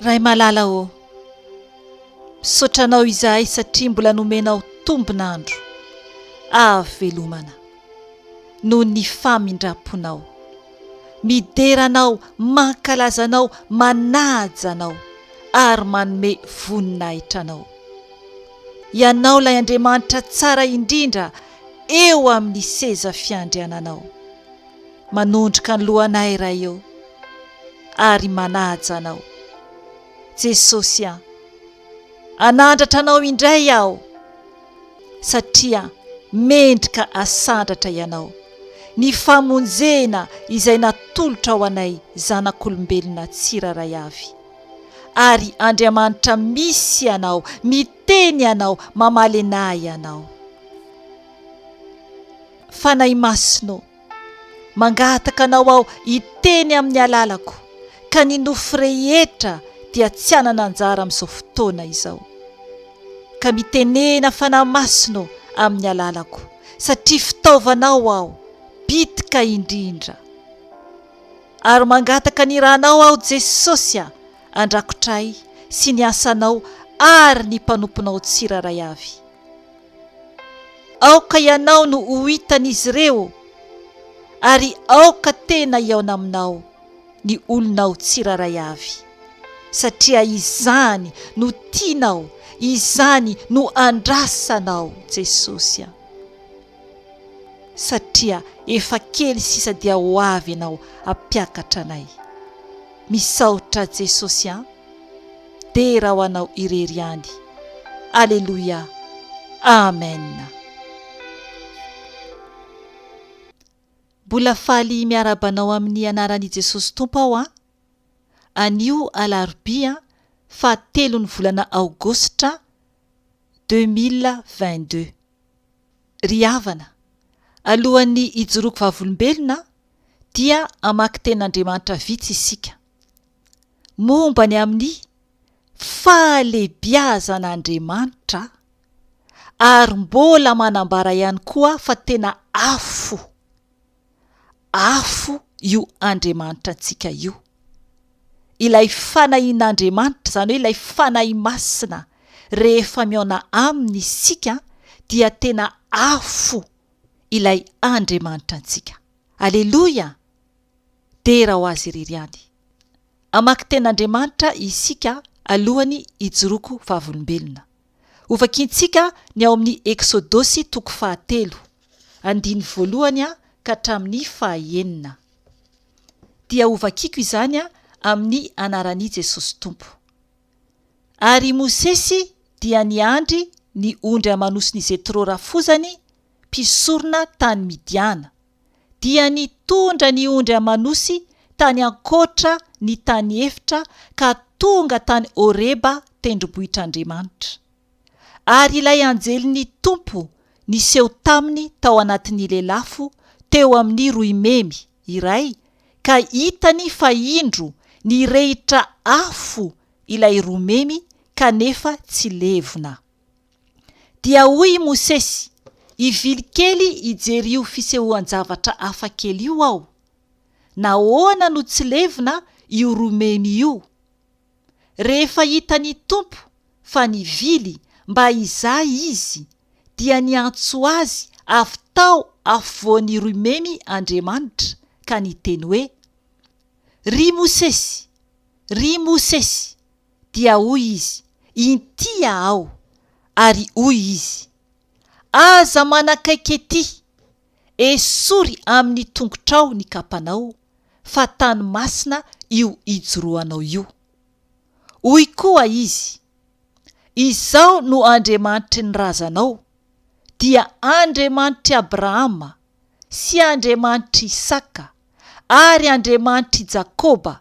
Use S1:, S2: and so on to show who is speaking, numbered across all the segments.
S1: Ray malala ô! Misaotra anao izahay satria mbola nomenao tombon'andro ahavelomana noho ny famindramponao. Midera anao, mankalaza anao, manaja anao ary manome voninahitra anao. Ianao ilay Andriamanitra tsara indrindra eo amin'ny seza fiandriananao, manondroka ny lohanay Ray eo, ary manaja Anao. Jesosy an! Anandratra Anao indray aho, satria mendrika asandratra Ianao, ny famonjena izay natolotrao anay zanak'olombelona tsirairay avy. Ary Andriamanitra misy Ianao, Teny ianao, mamaly anah ianao. Fanahy Masina ô, mangataka anao aho hiteny amin'ny alalako, ka ny nofo rehetra dia tsy hanana anjara amin'izao fotoana izao. Ka mitenena Fanahy Masina ô amin'ny alalako, satria fitaovanao aho, bitika indrindra. Ary mangataka ny Ranao aho Jesosy a! an-drakotray sy ny asanao ary ny mpanomponao tsirairay avy. Aoka Ianao no ho hitan'izy ireo ary aoka tena hihaona aminao ny olonao tsirairay avy, satria izany no tianao, izany no andrasanao Jesosy a. satria efa kely sisa dia ho avy ianao hampiakatra anay. Misaotra Jesosy an! Dera ho anao irery ihany. Aleloia! Amen! Mbola faly miarahaba anao amin'ny anaran'i Jesosy Tompo aho an! Anio alarobia fahatelon'ny volana aogositra deux mille vingt-deux. Ry havana, alohan'ny hijoroako vavolombelona dia hamaky tenin'Andriamanitra vitsy isika. Momba ny amin'ny fahalehibiazan'Andriamanitra ary mbola manambara ihany koa fa tena afo. Afo io Andriamanitra antsika io. Ilay fanahin'Andriamanitra, izany hoe ilay Fanahy Masina, rehefa mihaona aminy isika dia tena afo ilay Andriamanitra antsika. Aleloia! Dera ho Azy irery ihany. Hamaky tenin'Andriamanitra isika alohan'ny hijoroako vavolombelona. Hovakintsika ny ao amin'ny Eksodosy toko fahatelo, andiny voalohany ka hatramin'ny fahaenina. Dia hovakiko izany amin'ny anaran'i Jesosy Tompo. Ary i Mosesy dia niandry ny ondry aman'osin'i Jetro rafozany, mpisorona tany Midiana. dia nitondra ny ondry aman'osy tany ankoatra ny tany efitra ka tonga tany Horeba tendrombohitr'Andriamanitra. Ary ilay anjelin'ny Tompo niseho taminy tao anatin'ny lelafo teo amin'ny roimemy iray ka hitany fa indro nirehitra afo ilay roimemy kanefa tsy levona. Dia hoy i Mosesy, Hivily kely hijery io fisehoan-javatra hafa kely io aho. Nahoana no tsy levona io romemy io? Rehefa hitan'ny Tompo fa nivily mba hizaha izy, dia niantso azy avy tao afovoan'ny romemy Andriamanitra, ka niteny hoe, Ry Mosesy! Ry Mosesy! Dia hoy izy, Intia aho. Ary hoy izy, Aza manakaiky etỳ. Esory amin'ny tongotrao ny kapanao, fa tany masina io ijoroanao io. Hoy koa izy, Izaho no Andriamanitry ny razanao, dia Andriamanitr'i Abrahama, sy Andriamanitr'i Isaka, ary Andriamanitr'i Jakoba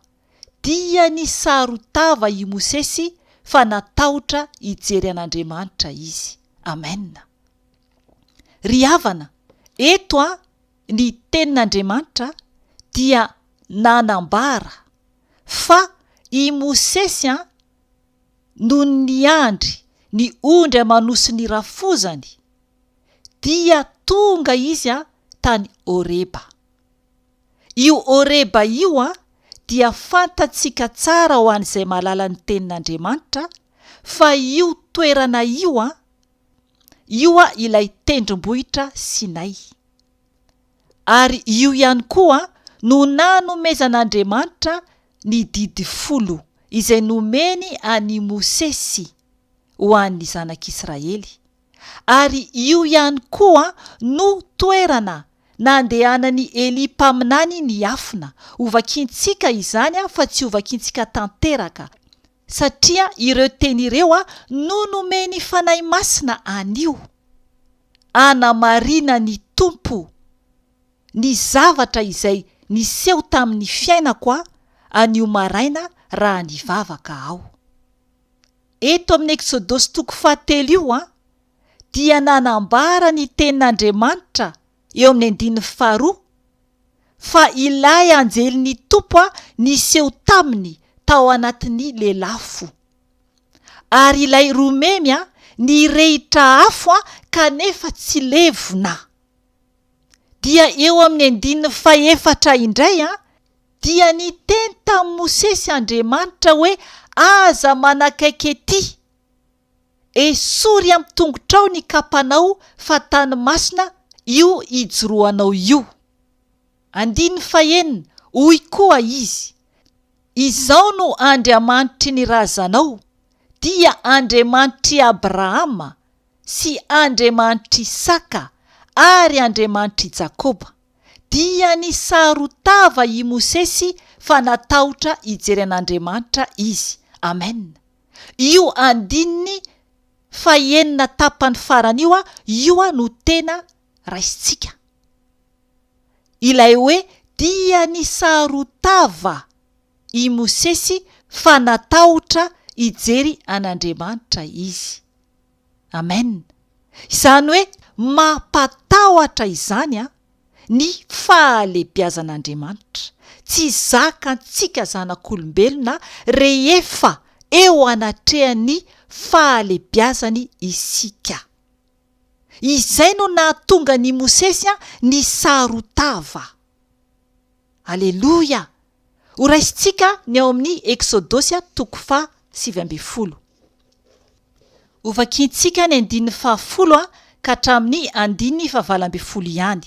S1: Diany saro-tava i Mosesy fa natahotra hijery an'Andriamanitra izy. Amena. Ry havana, eto an, ny Tenin'Andriamanitra dia nanambara fa i Mosesy an, nony niandry ny ondry aman-osin'ny rafozany, dia tonga izy an, tany Horeba. Io Horeba io dia fantatsika tsara ho an'izay mahalala ny Tenin'Andriamanitra fa io toerana io, io ilay tendrombohitra Sinay. Ary io ihany koa no nanomezan'Andriamanitra ny Didy Folo izay nomeny an'i Mosesy ho an'ny Zanak'Israely. ary io ihany koa no toerana nandehanan'i Elia mpaminany niafina, hovakintsika izany fa tsy hovakintsika tanteraka, satria ireo teny ireo no nomen'ny Fanahy Masina anio, anamarinan'ny Tompo ny zavatra izay niseho tamin'ny fiainako anio maraina raha nivavaka aho. Eto amin'ny Eksodosy toko fahatelo io dia nanambara ny tenin'Andriamanitra eo amin'ny andininy faharoa fa ilay anjelin'ny Tompo niseho taminy tao anatin'ny lelafo. Ary ilay romemy nirehitra afo kanefa tsy levona. Dia eo amin'ny andininy fahefatra indray Dia niteny tamin'i Mosesy Andriamanitra hoe, Aza manakaiky etỳ. Esory amin'ny tongotrao ny kapanao, fa tany masina io ijoroanao io. Andininy fahenina, Hoy koa Izy, Izaho no Andriamanitry ny razanao, dia Andriamanitr'i Abrahama sy Andriamanitr'i Isaka ary Andriamanitr'i Jakoba. dia nisaro-tava i Mosesy fa natahotra hijery an'Andriamanitra izy. Amen. Io andininy fahenina tapany farany io io no tena raisintsika. Ilay hoe dia nisaro-tava i Mosesy fa natahotra hijery an'Andriamanitra izy. Amen! Izany hoe mampatahotra izany an! Ny fahalebiazan'Andriamanitra tsy zakantsika zanak'olombelona rehefa eo anatrehan'ny fahalebiazany isika. Izay no nahatonga an'i Mosesy an nisarotava. Aleloia! Ho raisintsika ny ao amin'ny Eksodosy toko faha sivy ambin'ny folo. Hovakiantsika ny andininy faha folo ka hatramin'ny andininy faha valo ambin'ny folo ihany.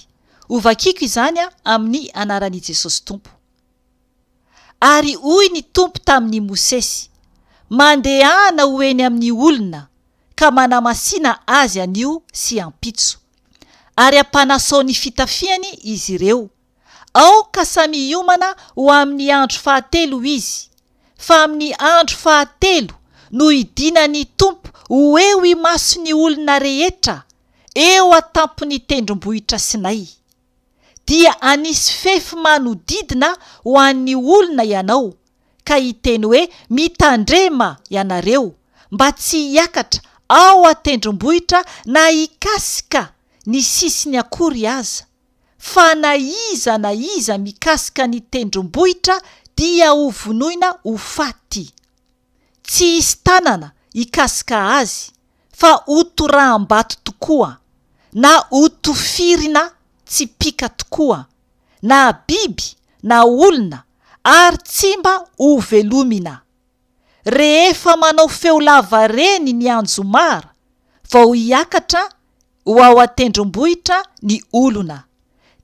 S1: Hovakiako izany amin'ny anaran'i Jesosy Tompo. Ary hoy ny Tompo tamin'i Mosesy, Mandehana ho eny amin'ny olona ka manamasina azy anio sy ampitso, ary ampanasao ny fitafiany izy ireo, Aoka samy hiomana ho amin'ny andro fahatelo izy, fa amin'ny andro fahatelo no hidinan'ny Tompo ho eo imason'ny olona rehetra eo an-tampon'ny tendrombohitra Sinay. Dia hanisy fefy manodidina ho an'ny olona ianao, ka hiteny hoe, Mitandrema, ianareo, mba tsy hiakatra ao an-tendrombohitra na hikasika ny sisiny akory aza, fa na iza na iza mikasika ny tendrombohitra dia ho vonoina ho faty. Tsy hisy tanana hikasika azy fa ho toraham-bato tokoa, na ho tofirina tsipìka tokoa, na biby na olona, ary tsy mba hovelomina. rehefa manao feo lava reny ny anjomara vao hiakatra ho ao an-tendrombohitra ny olona,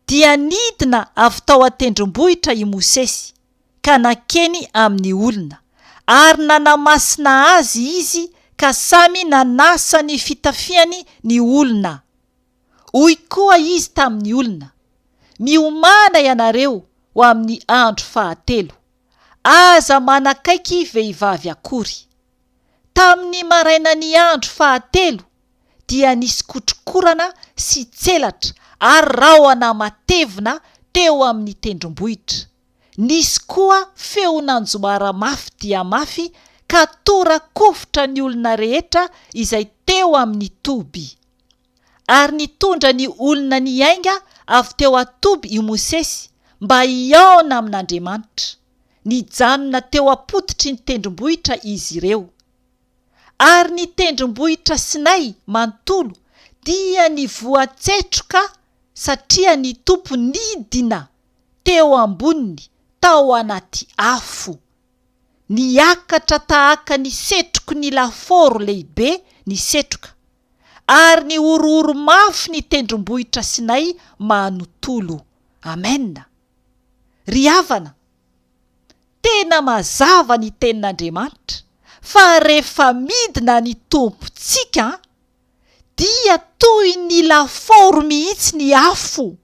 S1: dia nidina avy tao an-tendrombohitra i Mosesy ka nankeny amin'ny olona, ary nanamasina azy izy ka samy nanasa ny fitafiany ny olona. Hoy koa izy tamin'ny olona, Miomàna ianareo ho amin'ny andro fahatelo. Aza manakaiky vehivavy akory. Tamin'ny marainan'ny andro fahatelo dia nisy kotrokorana sy tselatra ary rahona matevina teo amin'ny tendrombohitra. Nisy koa feo nanjoara mafy dia mafy ka tora-kovitra ny olona rehetra izay teo amin'ny toby. ary nitondra ny olona niainga avy teo an-toby i Mosesy mba hihaona amin'Andriamanitra. Nijanona teo am-pototry ny tendrombohitra izy ireo. Ary ny tendrombohitra Sinay manontolo dia nivoatsetroka satria ny Tompo nidina teo amboniny tao anaty afo. Niakatra tahaka ny setroky ny lafaoro lehibe ny setroka. ary ny horohoro mafy ny tendrombohitra Sinay manontolo. Amena. Ry havana, tena mazava ny Tenin'Andriamanitra fa rehefa midina ny Tompontsika dia toy ny lafaoro mihitsy ny afo,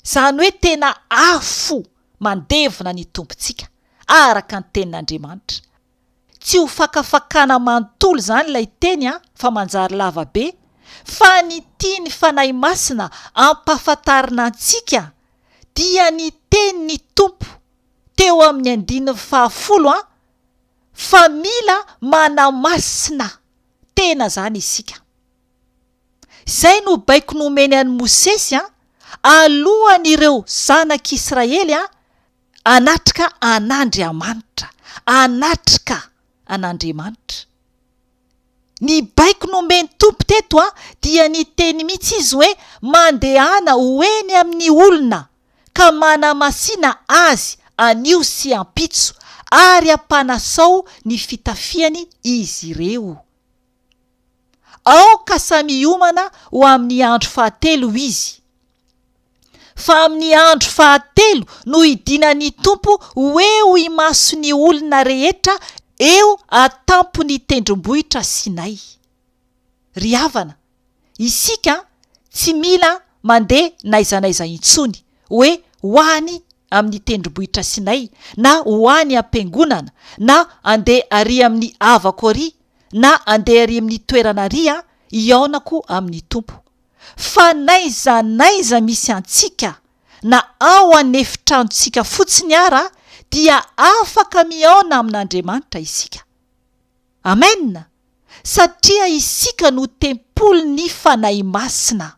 S1: izany hoe tena afo mandevona ny Tompontsika, araka ny Tenin'Andriamanitra. Tsy ho fakafakana manontolo izany ilay teny an, fa manjary lava be, fa ny tian'ny Fanahy Masina ampahafantarina antsika dia ny tenin'ny Tompo teo amin'ny andininy fahafolo an, fa mila manamasina tena izany isika. Izay no baiko nomeny an'i Mosesy an, alohan'ireo zanak'Israely an, Hanatrika an'Andriamanitra, hanatrika an'Andriamanitra. Ny baiko nomen'ny Tompo teto dia niteny mihitsy Izy hoe, Mandehana ho eny amin'ny olona ka manamasina azy anio sy ampitso ary ampanasao ny fitafiany izy ireo. Aoka samy hiomana ho amin'ny andro fahatelo izy. Fa amin'ny andro fahatelo no hidinan'ny Tompo ho eo imason'ny olona rehetra eo an-tampon'ny tendrombohitra Sinay. Ry havana, isika tsy mila mandeha n'aiza n'aiza intsony hoe ho any amin'ny tendrombohitra Sinay na ho any am-piangonana na handeha arỳ amin'ny havako arỳ, na andeha ery amin'ny toerana ary aho, hihaonako amin'ny Tompo. Fa n'aiza n'aiza misy antsika, na ao an'efitranontsika fotsiny ara, dia afaka mihaona amin'Andriamanitra isika. Amen! Satria isika no tempolin'ny Fanahy Masina.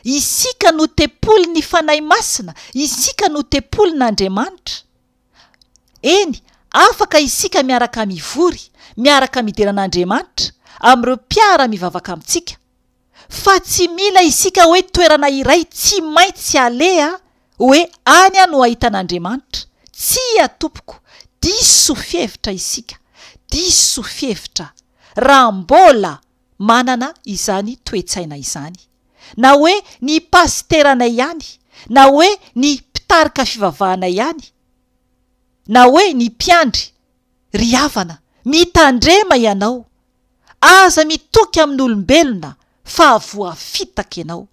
S1: Isika no tempolin'ny Fanahy Masina, isika no tempolin'Andriamanitra. Eny, afaka isika miaraka mivory, miaraka midera an'Andriamanitra, amin'ireo mpiara-mivavaka amintsika. Fa tsy mila isika hoe toerana iray tsy maintsy aleha, hoe any no ahitana Andriamanitra. Tsia, tompoko, diso fihevitra isika, diso fihevitra, raha mbola manana izany toe-tsaina izany. na hoe ny pasiteranay ihany, na hoe ny mpitarika fivavahanay ihany, na hoe ny mpiandry. Ry havana, mitandrema ianao, aza mitoky amin'olombelona fa voafitaka ianao.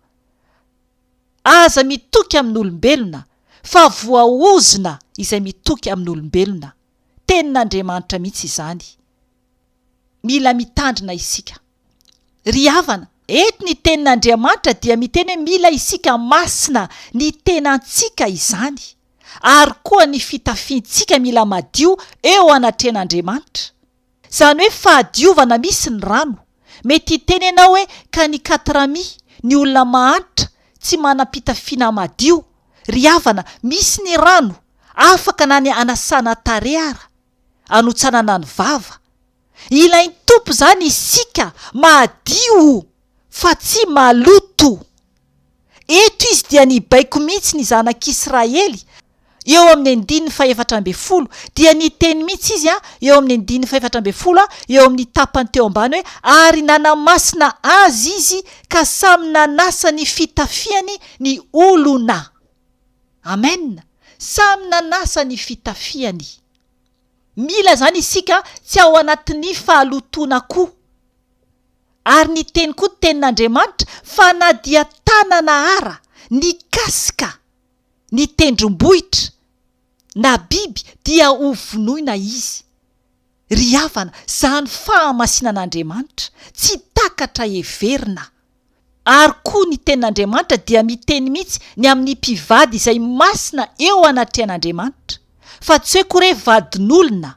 S1: Aza mitoky amin'olombelona fa voaozona izay mitoky amin'olombelona. Tenin'Andriamanitra mihitsy izany. Mila mitandrina isika. Ry havana, eto ny tenin'Andriamanitra dia miteny hoe mila isika masina, ny tenantsika izany, ary koa ny fitafiantsika mila madio eo anatrehan'Andriamanitra. Izany hoe fahadiovana misy ny rano. Mety hiteny ianao hoe ka ny katrami, ny olona mahantra, tsy manam-pitafiana madio. Ry havana, misy ny rano, afaka na ny hanasana tarehy ara, hanotsanana ny vava. Ilain'ny Tompo izany isika mahadio fa tsy maloto. Eto izy dia nibaiko mihitsy ny zanak'Israely, eo amin'ny andininy fahefatra ambin'ny folo, dia niteny mihitsy izy eo amin'ny andininy fahefatra ambin'ny folo, eo amin'ny tapany teo ambany hoe, Ary nanamasina azy izy ka samy nanasa ny fitafiany ny olona. Amen. Samy nanasa ny fitafiany. Mila izany isika tsy ao anatin'ny fahalotoana koa. Ary ny teny koa tenin'Andriamanitra fa na dia tanana ara nikasika ny tendrombohitra na biby dia ho vonoina izy. Ry havana, izany fahamasinan'Andriamanitra tsy takatra heverina. Ary koa ny tenin'Andriamanitra dia miteny mihitsy ny amin'ny mpivady izay masina eo anatrehan'Andriamanitra, fa tsy hoe kore vadin'olona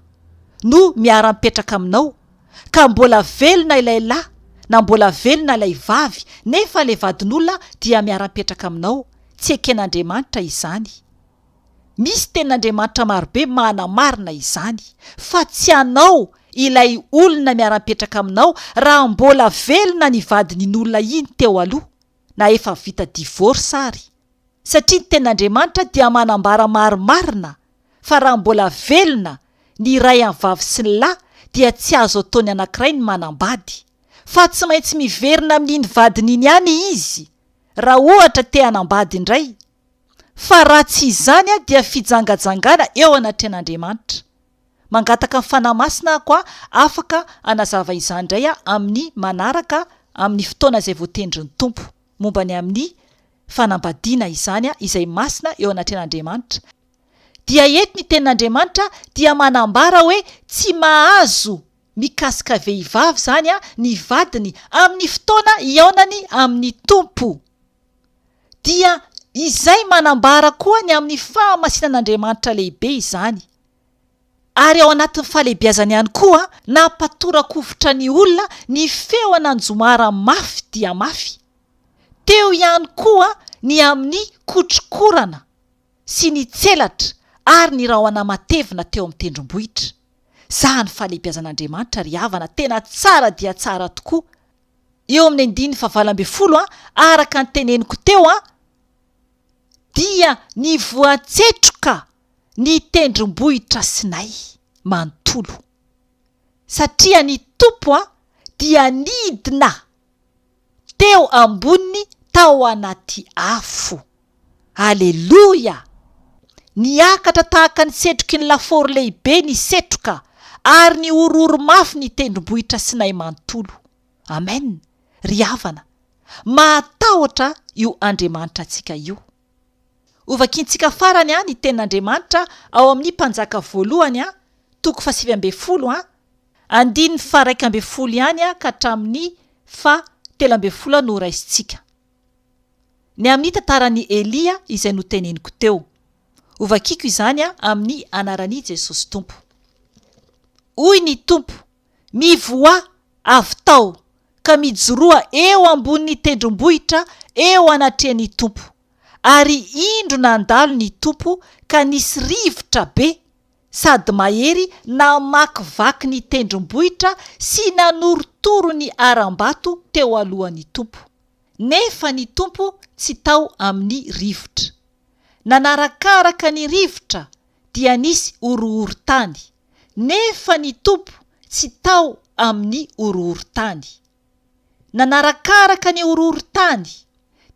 S1: no miara-mipetraka aminao, ka mbola velona ilay lahy na mbola velona ilay vavy nefa ilay vadin'olona dia miara-mipetraka aminao, tsy eken'Andriamanitra izany. Misy tenin'Andriamanitra marobe manamarina izany, fa tsy hanao ilay olona miara-mipetraka aminao raha mbola velona ny vadin'iny olona iny teo aloha, na efa vita divorce ary. Satria ny tenin'Andriamanitra dia manambara marimarina fa raha mbola velona ny iray amin'ny vavy sy ny lahy dia tsy azo atao ny anankiray ny manambady, fa tsy maintsy miverina amin'iny vadiny iny ihany izy raha ohatra te-hanambady indray. Fa raha tsy izany aho dia fijangajangana eo anatrehan'Andriamanitra. Mangataka ny Fanahy Masina aho koa afaka hanazava izany indray aho amin'ny manaraka amin'ny fotoana izay voatendrin'ny Tompo, momba ny amin'ny fanambadiana izany izay masina eo anatrehan'Andriamanitra. Dia eto ny tenin'Andriamanitra dia manambara hoe tsy mahazo mikasika vehivavy izany ny vadiny amin'ny fotoana hihaonany amin'ny Tompo. dia izay manambara koa ny amin'ny fahamasinan'Andriamanitra lehibe izany, ary ao anatin'ny fahalehibiazany ihany koa nampatorakofitra ny olona ny feon' Anjomara mafy dia mafy, teo ihany koa ny amin'ny kotrokorana sy ny tselatra ary ny rahona matevina teo amin'ny tendrombohitra, zah ny fahalehibiazan'Andriamanitra ry havana tena tsara dia tsara tokoa. eo amin'ny andininy fahavalo ambin'ny folo, araka ny teneniko teo, dia ny voantsetroka ny tendrombohitra Sinay manontolo. Satria ny Tompo dia nidina teo amboniny tao anaty afo. Aleloia! Niakatra tahaka ny setroky ny lafaoro lehibe ny setroka, ary nihorohoro mafy ny tendrombohitra Sinay manontolo. Amen! Ry havana, mahatahotra io Andriamanitra antsika io. Hovakintsika farany an ny Tenin'Andriamanitra ao amin'ny Mpanjaka Voalohany an, toko fahasivy ambin'ny folo an, andininy faha-iraika ambin'ny folo ihany an ka hatramin'ny faha-telo ambin'ny folo an no horaisintsika. Ny amin'ny tantaran'i Elia izay noteneniko teo. Hovakiko izany amin'ny anaran'i Jesosy Tompo. Hoy ny Tompo, Mivoaha avy tao, ka mijoroa eo ambonin'ny tendrombohitra eo anatrehan'ny Tompo. Ary indro nandalo ny Tompo ka nisy rivotra be sady mahery namakivaky ny tendrombohitra sy nanorotoro ny harambato teo alohan'ny Tompo. nefa ny Tompo tsy tao amin'ny rivotra. Nanarakaraka ny rivotra dia nisy horohorontany, nefa ny Tompo tsy tao amin'ny horohorontany. Nanarakaraka ny horohorontany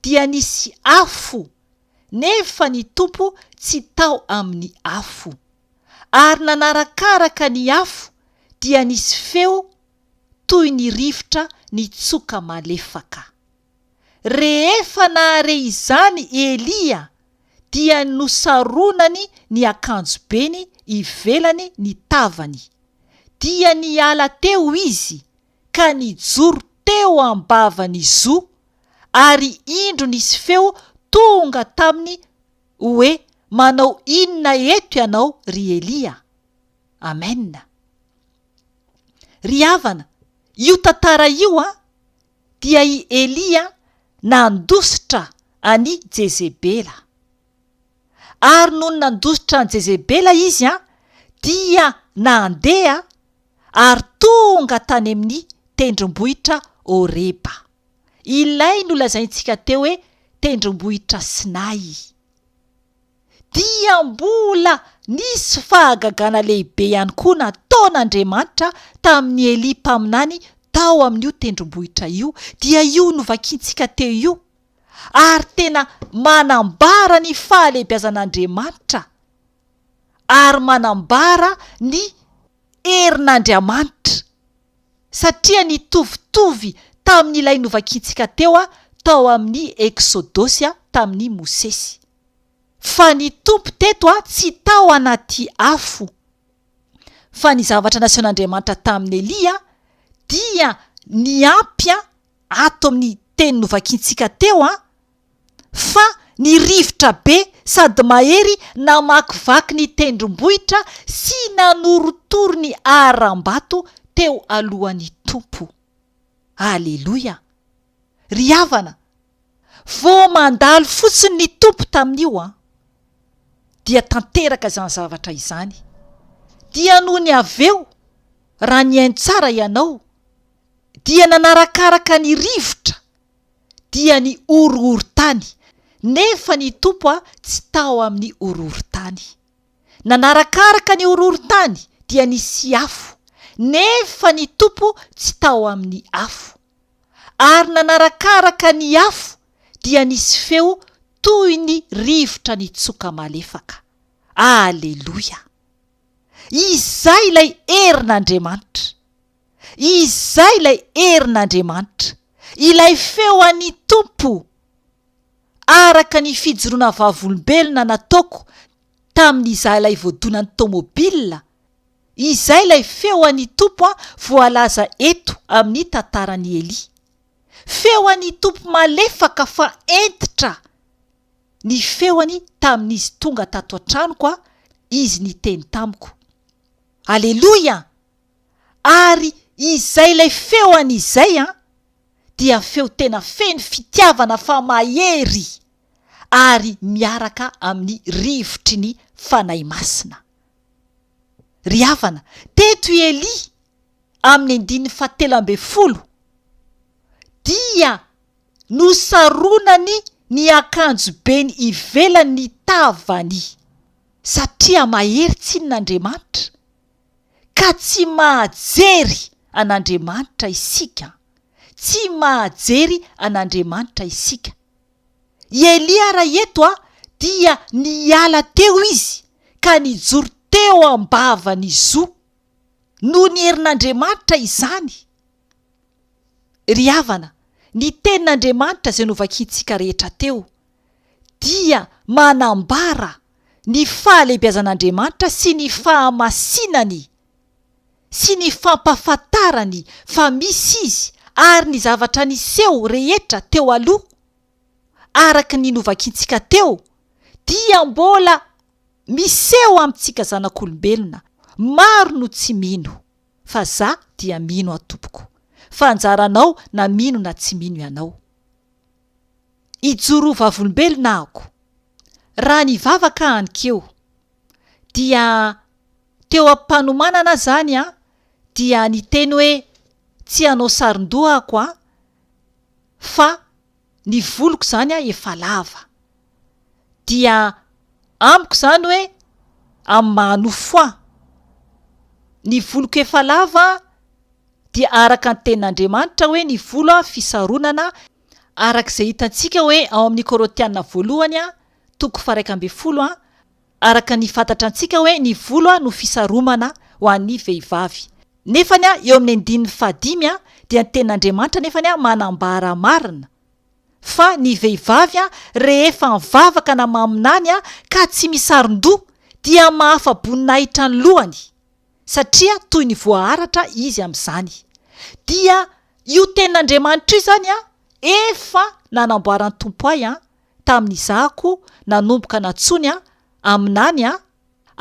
S1: dia nisy afo, nefa ny Tompo tsy tao amin'ny afo. Ary nanarakaraka ny afo dia nisy feo, toy ny rivotra nitsoka malefaka. Rehefa nahare izany i Elia, dia nosaronany ny akanjobeny ivelany ny tavany, dia niala teo izy ka nijoro teo am-bavan'ny zo, ary indro nisy feo tonga taminy hoe, Manao inona eto ianao, ry Elia? Amena. Ry havana, io tantara io an, dia i Elia nandositra an'i Jezebela. Ary nony nandositra an'i Jezebela izy an, dia nandeha ary tonga tany amin'ny tendrombohitra Horeba. Ilay nolazaintsika teo hoe tendrombohitra Sinay. dia mbola nisy fahagagana lehibe ihany koa nataon'Andriamanitra tamin'i Elia mpaminany tao amin'io tendrombohitra io, dia io novakiantsika teo io, ary tena manambara ny fahalehibiazan'Andriamanitra ary manambara ny herin'Andriamanitra. satria nitovitovy tamin'ilay novakiantsika teo tao amin'ny Eksodosy tamin'i Mosesy, fa ny Tompo teto tsy tao anaty afo, fa ny zavatra nasehon'Andriamanitra tamin'i Elia dia niampy ato amin'ny teny novakiantsika teo. fa ny rivotra be sady mahery namakivaky ny tendrombohitra sy nanorotoro ny harambato teo alohan'ny Tompo. Aleloia! Ry havana, vao mandalo fotsiny ny Tompo tamin'io an, dia tanteraka izany zavatra izany, dia nony avy eo, raha nihaino tsara ianao, dia nanarakaraka ny rivotra dia ny horohorontany, nefa ny Tompo tsy tao amin'ny horohorontany. Nanarakaraka ny horohorontany, dia nisy afo, nefa ny Tompo tsy tao amin'ny afo. Ary nanarakaraka ny afo, dia nisy feo toy ny rivotra nitsoka malefaka. Aleloia! Izay ilay herin'Andriamanitra. Izay ilay herin'Andriamanitra, ilay feo an'ny Tompo, araka ny fijoroana vavolombelona nataoko tamin'izaho ilay voadonan'ny tomobilina, izay ilay feo an'ny Tompo voalaza eto amin'ny tantaran'i Elia. Feo an'ny Tompo malefaka fa hentitra ny feony tamin'izy tonga tato an-tranoko, izy niteny tamiko. Aleloia! Ary izay ilay feo an izay an dia feo tena feno fitiavana fa mahery ary miaraka amin'ny rivotry ny Fanahy Masina. Ry havana, teto i Elia amin'ny andininy fahatelo ambin'ny folo dia nosaronany ny akanjobeny ivelan'ny tavany satria mahery tsinona Andriamanitra. ka tsy mahajery an'Andriamanitra isika. Tsy mahajery an'Andriamanitra isika. I Elia raha eto dia niala teo izy ka nijoro teo am-bavan'i Zo. Noho ny herin'Andriamanitra izany. Ry havana, ny tenin'Andriamanitra izay novakintsika rehetra teo. dia manambara ny fahalehibiazan'Andriamanitra sy ny fahamasinany sy ny fampahafantarany fa misy Izy ary ny zavatra niseho rehetra teo aloha araka ny novakiantsika teo dia mbola miseho amintsika zanak'olombelona maro no tsy mino fa za dia mino aho tompoko fa anjaranao na mino na tsy mino ianao Hijoro ho vavolombelona ahoko. Raha nivavaka aho anikeo, dia teo am-panomanana aho izany an, dia niteny hoe, tsy hanao saron-doha ahoko an, fa ny voloko izany an efa lava. dia amiko izany hoe amin'ny maha nofo ahy. Ny voloko efa lava dia araka ny tenin'Andriamanitra hoe ny volo fisaronana araka izay hitantsika hoe ao amin'ny Korintiana voalohany toko faharaika ambin'ny folo araka ny fantatra antsika hoe ny volo no fisaromana ho an'ny vehivavy nefa eo amin'ny andininy fahadimy dia ny tenin'Andriamanitra nefa manambara marina fa ny vehivavy rehefa mivavaka na maminany ka tsy misaron-doha dia mahafa-boninahitra ny lohany satria toy ny voaharatra izy amin'izany dia io tenin'Andriamanitra io izany efa nanamboaran'ny Tompo ahy tamin'izahko nanomboka nantsoiny aho aminany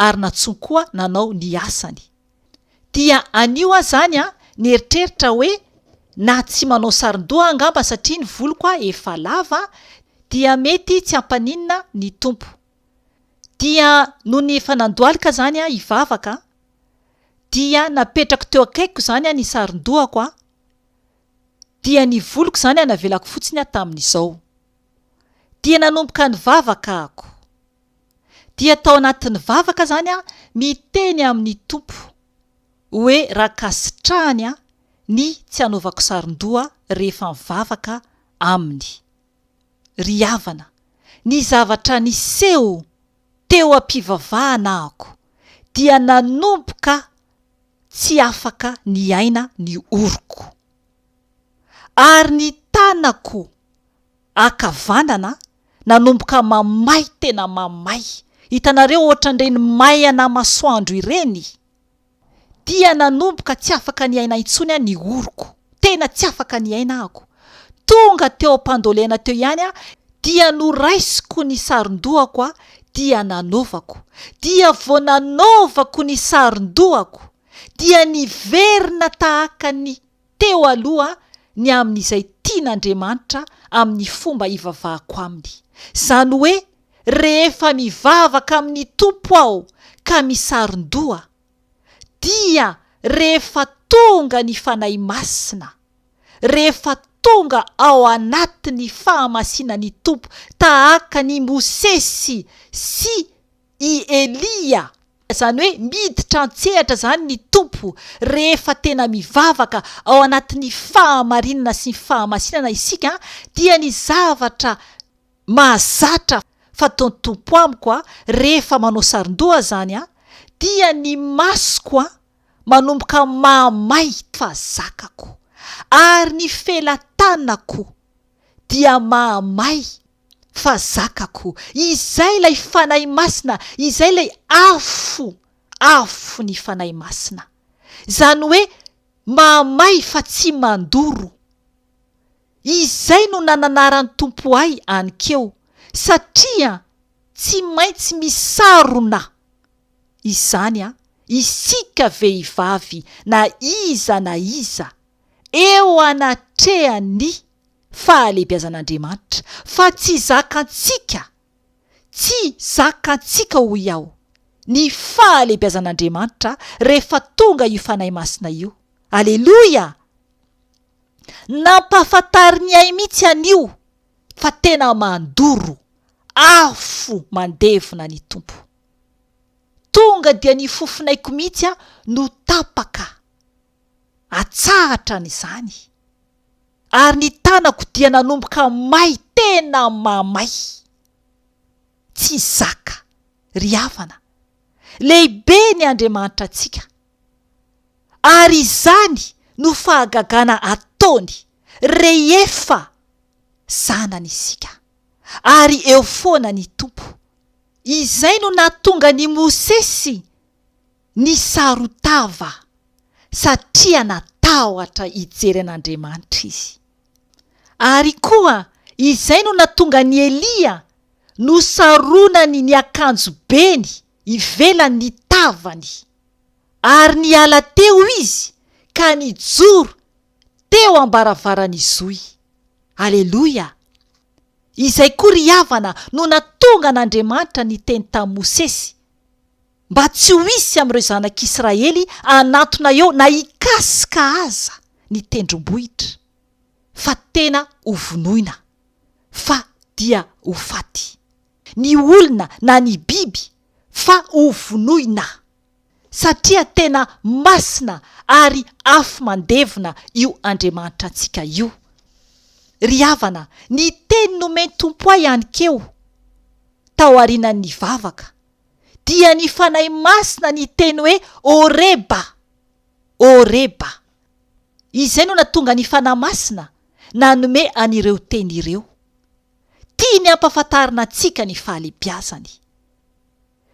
S1: ary nantsoiny koa nanao ny asany dia anio aho izany an, nieritreritra hoe na tsy manao sarondoha aho angamba satria ny voloko efa lava dia mety tsy hampaninona ny Tompo. Dia nony efa nandohalika izany aho hivavaka an, dia napetrako teo akaikiko izany ny sarondohako an, dia ny voloko izany navelako fotsiny an tamin'izao. dia nanomboka nivavaka ako. Dia tao anatin'ny vavaka izany aho niteny amin'ny Tompo hoe rankasitrahany aho ny tsy anaovako sarondoha rehefa mivavaka Aminy. Ry havana, ny zavatra niseho teo am-pivavahana ako dia nanomboka tsy afaka niaina ny oroko. ary ny tanako ankavanana nanomboka mamay tena mamay, hitanareo ohatran'ireny may an'amasoandro ireny, dia nanomboka tsy afaka niaina intsony aho, ny oroko, tena tsy afaka niaina ahako, tonga teo am-pandolena teo ihany aho dia noraisiko ny saron-dohako dia nanaovako, dia vao nanaovako ny saron-dohako dia niverina tahaka ny. teo aloha ny amin'izay tian'Andriamanitra amin'ny fomba ivavahako Aminy, izany hoe rehefa mivavaka amin'ny Tompo aho ka misaron-doha, dia rehefa tonga ny Fanahy Masina, rehefa tonga ao anatin'ny fahamasinan'ny Tompo tahaka an'i Mosesy sy i Elia, izany hoe miditra an-tsehatra izany ny Tompo rehefa tena mivavaka ao anatin'ny fahamarinana sy ny fahamasinana isika dia ny zavatra mahazatra fataon'ny Tompo amiko rehefa manao sarondoha izany dia ny masoko manomboka mahamay fa zakako ary ny felatanako dia mahamay Fa zakako, izay ilay Fanahy Masina, izay ilay afo, afo ny Fanahy Masina. Izany hoe mahamay fa tsy mandoro. Izay no nananaran'ny Tompo ahy any keo, satria tsy maintsy misarona. Izany an, isika vehivavy na iza na iza, eo anatrehan'ny. fahalehibiazan'Andriamanitra, fa tsy zakantsika, tsy zakantsika hoy aho, ny fahalehibiazan'Andriamanitra rehefa tonga io Fanahy Masina io. Aleloia! Nampahafantarin'i Ay mihitsy an'io fa tena mandoro, afo mandevona ny Tompo. Tonga dia ny fofonaiko mihitsy no tapaka. atsahatra an' izany, ary ny tanako dia nanomboka may tena mamay. Tsy zaka, ry havana. Lehibe ny Andriamanitra antsika. Ary izany no fahagagana ataony rehefa zanany isika, ary eo foana ny Tompo. Izay no nahatonga an' i Mosesy Nisarotava satria natahotra hijery an'Andriamanitra izy. Ary koa izay no natonga an'i Elia nosaronany ny akanjobeny ivelan'ny tavany. Ary niala teo izy ka nijoro teo am-baravaran'ny zohy. Aleloia! Izay koa ry havana no natonga an'Andriamanitra niteny tamin'i Mosesy. mba tsy ho hisy amin'ireo zanak'Israely hanatona eo na hikasika aza ny tendrombohitra, fa tena ho vonoina, fa dia ho faty, ny olona na ny biby, fa ho vonoina, satria tena masina ary afo mandevona io Andriamanitra antsika io. Ry havana, ny teny nomen'ny Tompo ahy hankeo, tao aorianan'ny vavaka, dia ny Fanahy Masina niteny hoe Horeba, Horeba. Izay no natonga ny Fanahy Masina nanome an'ireo teny ireo. Tiany hampafantarina antsika ny fahalebiazany.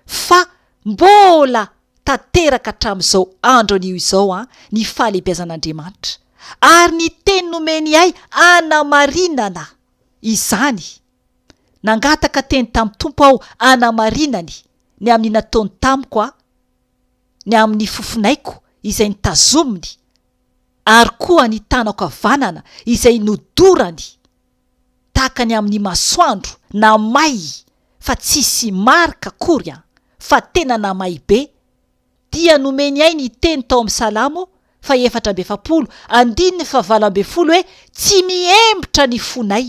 S1: Fa mbola tanteraka hatramin'izao andro anio izao an, ny fahalebiazan'Andriamanitra. Ary ny teny nomeny ahy anamarinana izany. Nangataka teny tamin'ny Tompo aho hanamarinany ny amin'ny nataony tamiko aho, ny amin'ny fofonaiko izay notazominy, ary koa ny tanako havanana izay nodorany, tahaka ny amin'ny masoandro namay fa tsy hisy marika akory an, fa tena namay be. Dia nomeny ahy ny teny tao amin'ny Salamo fahefatra amby efapolo, andininy fahavalo ambin'ny folo hoe, Tsy mihembotra ny fonay,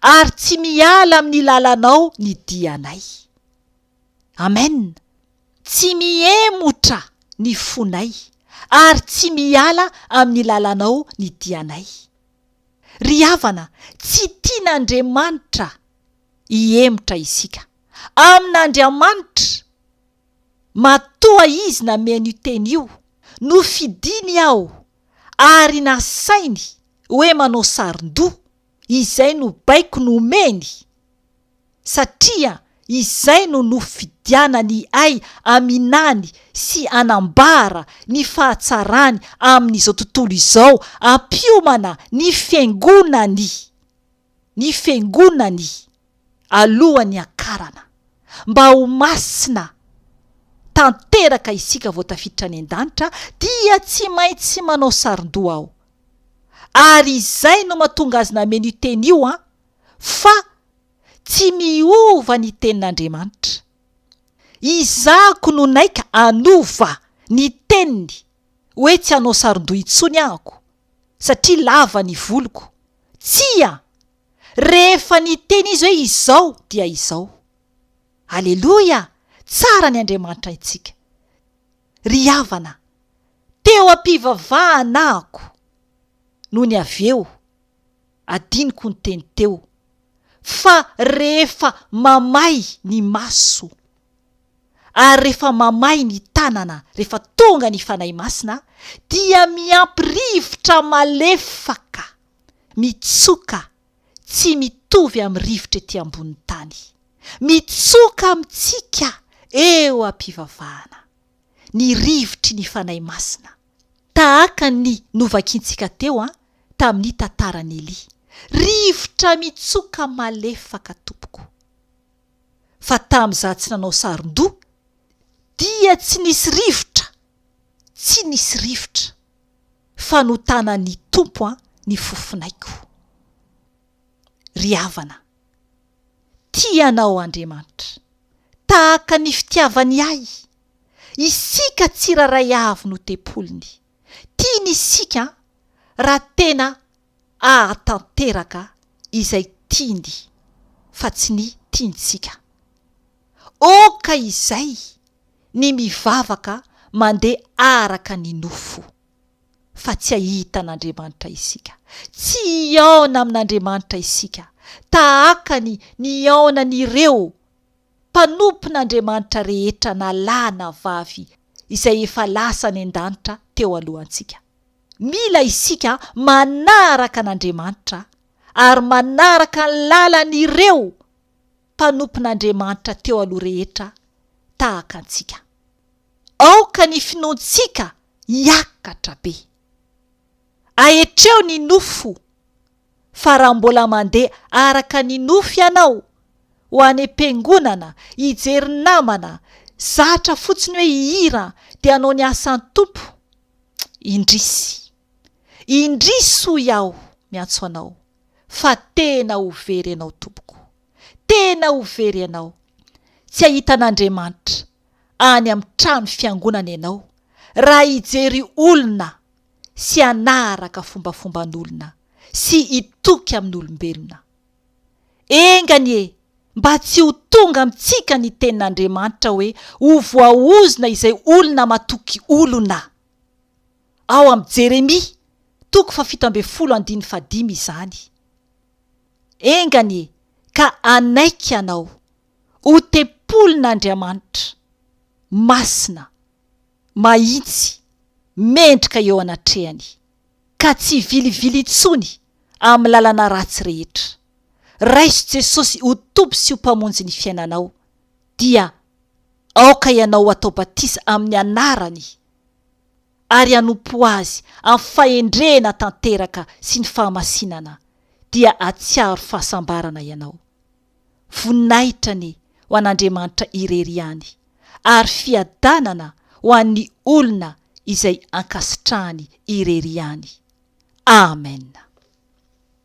S1: ary tsy miala amin'ny lalanao ny dianay. Amen! Tsy mihemotra ny fonay, ary tsy miala amin'ny lalanao ny dianay. Ry havana, tsy tian'Andriamanitra hihemotra isika. Amin'Andriamanitra, Matoa izy nameno io teny io, nofidiny aho ary nasainy hoe manao sarin-doha, izay no baiko nomeny, satria izay no nofidianany ahy haminany sy hanambara ny fahatsarany amin'izao tontolo izao, hampiomana ny fiangonany. ny fiangonany alohan'ny hiakarana, mba ho masina tanteraka isika vao tafiditra any an-danitra dia tsy maintsy manao sarondoha aho, ary izay no mahatonga azy nameno io teny io an, fa tsy miova ny tenin'Andriamanitra, izahako no naika hanova ny teniny hoe tsy hanao sarondoha intsony ahako. satria lava ny voloko. Tsia! Rehefa niteny izy hoe izao dia izao. Aleloia! Tsara ny Andriamanitra antsika. Ry havana, teo am-pivavahanako nony avy eo, adinoko ny teny teo, fa rehefa mamay ny maso, ary rehefa mamay ny tanana rehefa tonga ny Fanahy Masina dia miampy rivotra malefaka mitsoka tsy mitovy amin'ny rivotra ety ambonin'ny tany mitsoka amintsika eo am-pivavahana ny rivotry ny Fanahy Masina tahaka ny novakintsika teo an tamin'ny tantaran'i Elia rivotra mitsoka malefaka tompoko fa tamin' izaho tsy nanao saron-doha dia tsy nisy rivotra, tsy nisy rivotra, fa notanan' ny Tompo ny fofonaiko. Ry havana, tia anao Andriamanitra, tahaka ny fitiavany ahy, isika tsirairay avy no tempoliny, tiany isika raha tena ahatanteraka izay tiany fa tsy ny tiantsika. Oka izay ny mivavaka mandeha araka ny nofo, fa tsy ahita an'Andriamanitra isika. Tsy hihaona amin'Andriamanitra isika tahaka ny nihaonan'ireo mpanompon'Andriamanitra rehetra na lahy na vavy izay efa lasa any an-danitra teo alohantsika. Mila isika manaraka an'Andriamanitra ary manaraka ny lalan'ireo mpanompon'Andriamanitra teo aloha rehetra tahaka antsika. Aoka ny finoantsika hiakatra be. Ahetreo ny nofo Fa raha mbola mandeha araka ny nofo ianao, ho any am-piangonana, hijery namana, zatra fotsiny hoe hihira dia hanao ny asan'ny Tompo, indrisy. Indrisy hoy aho miantso anao fa tena ho very ianao tompoko. Tena ho very ianao. Tsy hahita an'Andriamanitra any amin'ny trano fiangonana ianao raha hijery olona sy hanaharaka fombafomban'olona sy hitoky amin'olombelona. Enga anie mba tsy ho tonga amintsika ny tenin'Andriamanitra hoe ho voaozona izay olona matoky olona. Ao amin'ny Jeremia, toko fahafito ambin'ny folo andininy fahadimy izany. Enga anie ka hanaiky ianao ho tempolin'Andriamanitra masina. mahitsy, mendrika eo anatrehany, ka tsy vilivily intsony amin'ny lalana ratsy rehetra. Raiso Jesosy ho Tompo sy ho Mpamonjin'ny fiainanao, dia aoka ianao ho atao batisa amin'ny Anarany, ary hanompo Azy amin'ny fahendrena tanteraka sy ny fahamasinana, dia hahatsiaro fahasambarana ianao. Voninahitra anie ho an'Andriamanitra irery ihany, ary fiadanana ho an'ny olona izay ankasitrahany irery ihany. Amen.